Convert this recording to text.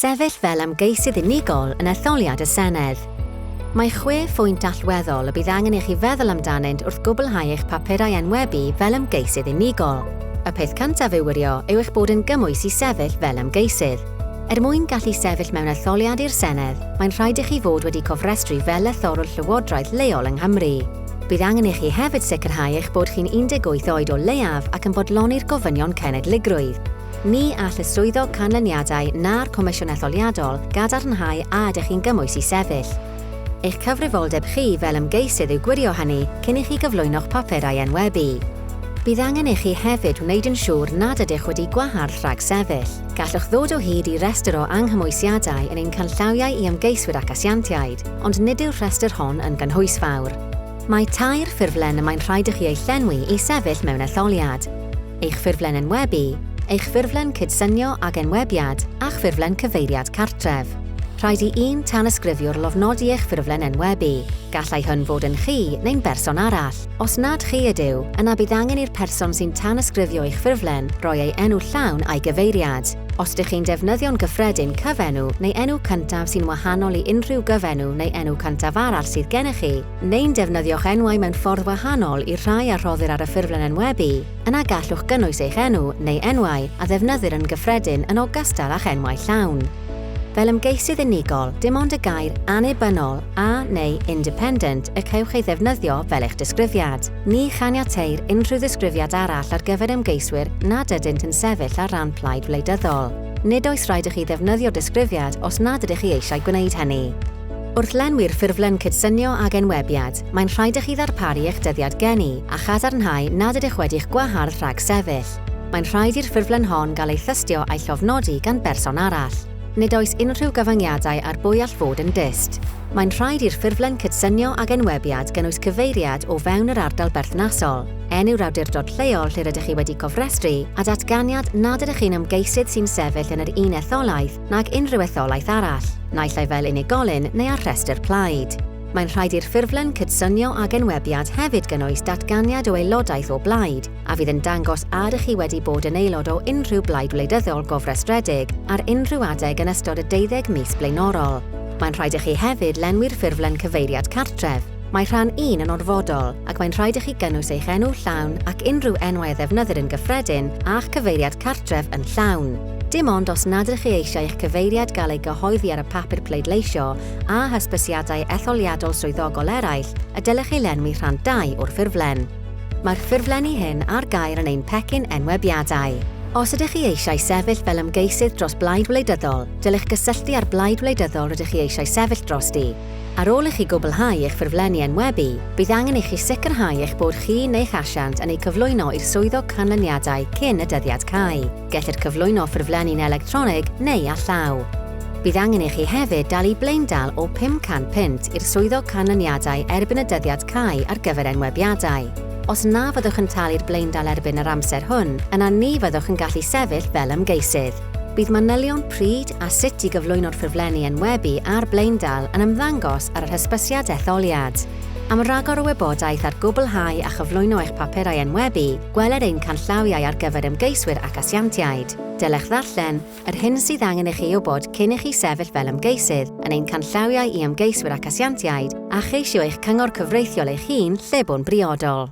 Sefyll fel ymgeisydd unigol yn etholiad y Senedd. Mae chwe phwynt allweddol y bydd angen i chi feddwl amdanynt wrth gwblhau eich papurau enwebu fel ymgeisydd unigol. Y peth cyntaf i'w wirio yw eich bod yn gymwys i sefyll fel ymgeisydd. Er mwyn gallu sefyll mewn etholiad i'r Senedd, mae'n rhaid i chi fod wedi cofrestru fel lethrwr llywodraeth leol yng Nghymru. Bydd angen i chi hefyd sicrhau eich bod chi'n 18 oed o leiaf ac yn bodloni'r gofynion cenedligrwydd. Ni all y Swyddog Canlyniadau na'r Comisiwn Etholiadol gadarnhau a ydych chi'n gymwys i sefyll. Eich cyfrifoldeb chi fel ymgeisydd yw gwirio hynny cyn i chi gyflwyno'ch papur a'i enwebu. Bydd angen i chi hefyd wneud yn siŵr nad ydych wedi gwahardd rhag sefyll. Gallwch ddod o hyd i restr o anghymwysiadau yn ein canllawiau i ymgeiswyr ac asiantiaid, ond nid yw'r rhestr hon yn gynhwysfawr. Mae tair ffurflen y mae'n rhaid i chi eu llenwi i sefyll mewn etholiad. eich ffurflen enwebu, eich ffurflen cydsynio ag enwebiad a'ch ffurflen cyfeiriad cartref. Rhaid i un tanysgrifiwr lofnodi eich ffurflen enwebu. Gallai hwn fod yn chi neu'n berson arall. Os nad chi ydyw, yna bydd angen i'r person sy'n tanysgrifio eich ffurflen roi ei enw llawn a'i gyfeiriad. Os dych chi'n defnyddio'n gyffredin cyfenw neu enw cyntaf sy'n wahanol i unrhyw gyfenw neu enw cyntaf arall sydd gennych chi, neu'n defnyddio'ch enwau mewn ffordd wahanol i'r rhai a rhoddir ar y ffurflen enwebu, yna gallwch gynnwys eich enw neu enwau a ddefnyddir yn gyffredin yn ogystal â'ch enwau llawn. Fel ymgeisydd unigol, dim ond y gair 'annibynnol' a neu 'independent' y cewch ei ddefnyddio fel eich disgrifiad. Ni chaniateir unrhyw ddisgrifiad arall ar gyfer ymgeiswyr nad ydynt yn sefyll ar ran plaid wleidyddol. Nid oes rhaid i chi ddefnyddio disgrifiad os nad ydych chi eisiau gwneud hynny. Wrth lenwi'r ffurflen cydsynio ag enwebiad, mae'n rhaid i chi ddarparu eich dyddiad geni a chadarnhau nad ydych wedi'ch gwahardd rhag sefyll. Mae'n rhaid i'r ffurflen hon gael ei thystio a'i llofnodi gan berson arall. Nid oes unrhyw gyfyngiadau ar bwy all fod yn dyst. Mae'n rhaid i'r ffurflen cydsynio ag enwebiad gynnwys cyfeiriad o fewn yr ardal berthnasol, enw'r awdurdod lleol lle rydych chi wedi cofrestru a datganiad nad ydych chi'n ymgeisydd sy'n sefyll yn yr un etholaeth nag unrhyw etholaeth arall, naill ai fel unigolyn neu ar rhestr plaid. Mae'n rhaid i'r ffurflen cydsynio ag enwebiad hefyd gynnwys datganiad o aelodaeth o blaid, a fydd yn dangos a ydych chi wedi bod yn aelod o unrhyw blaid wleidyddol gofrestredig ar unrhyw adeg yn ystod y deuddeg mis blaenorol. Mae'n rhaid i chi hefyd lenwi'r ffurflen cyfeiriad cartref. Mae rhan un yn orfodol, ac mae'n rhaid i chi gynnwys eich enw llawn ac unrhyw enwau a ddefnyddir yn gyffredin, a'ch cyfeiriad cartref yn llawn. Dim ond os nad ydych chi eisiau eich cyfeiriad gael ei gyhoeddi ar y papur pleidleisio a hysbysiadau etholiadol swyddogol eraill y dylech chi lenwi rhan ii o'r ffurflen. Mae'r ffurflenni hyn ar gael yn ein pecyn enwebiadau. Os ydych chi eisiau sefyll fel ymgeisydd dros blaid wleidyddol, dylech gysylltu â'r blaid wleidyddol rydych chi eisiau sefyll drosti. Ar ôl i chi gwblhau eich ffurflenni enwebu, bydd angen i chi sicrhau eich bod chi neu'ch asiant yn eu cyflwyno i'r Swyddog Canlyniadau cyn y dyddiad cau. Gellir cyflwyno ffurflenni'n electronig neu â llaw. Bydd angen i chi hefyd dalu blaendal o £500 i'r Swyddog Canlyniadau erbyn y dyddiad cau ar gyfer enwebiadau. Os na fyddwch yn talu'r blaendal erbyn yr amser hwn, yna ni fyddwch yn gallu sefyll fel ymgeisydd. Bydd manylion pryd a sut i gyflwyno'r ffurflenni enwebu a'r blaendal yn ymddangos ar yr hysbysiad etholiad. Am ragor o wybodaeth ar gwblhau a chyflwyno eich papurau enwebu, gweler ein canllawiau ar gyfer ymgeiswyr ac asiantiaid. Dylech ddarllen yr hyn sydd angen i chi ei wybod cyn i chi sefyll fel ymgeisydd yn ein canllawiau i ymgeiswyr ac asiantiaid a cheisio eich cyngor cyfreithiol eich hun lle bo'n briodol.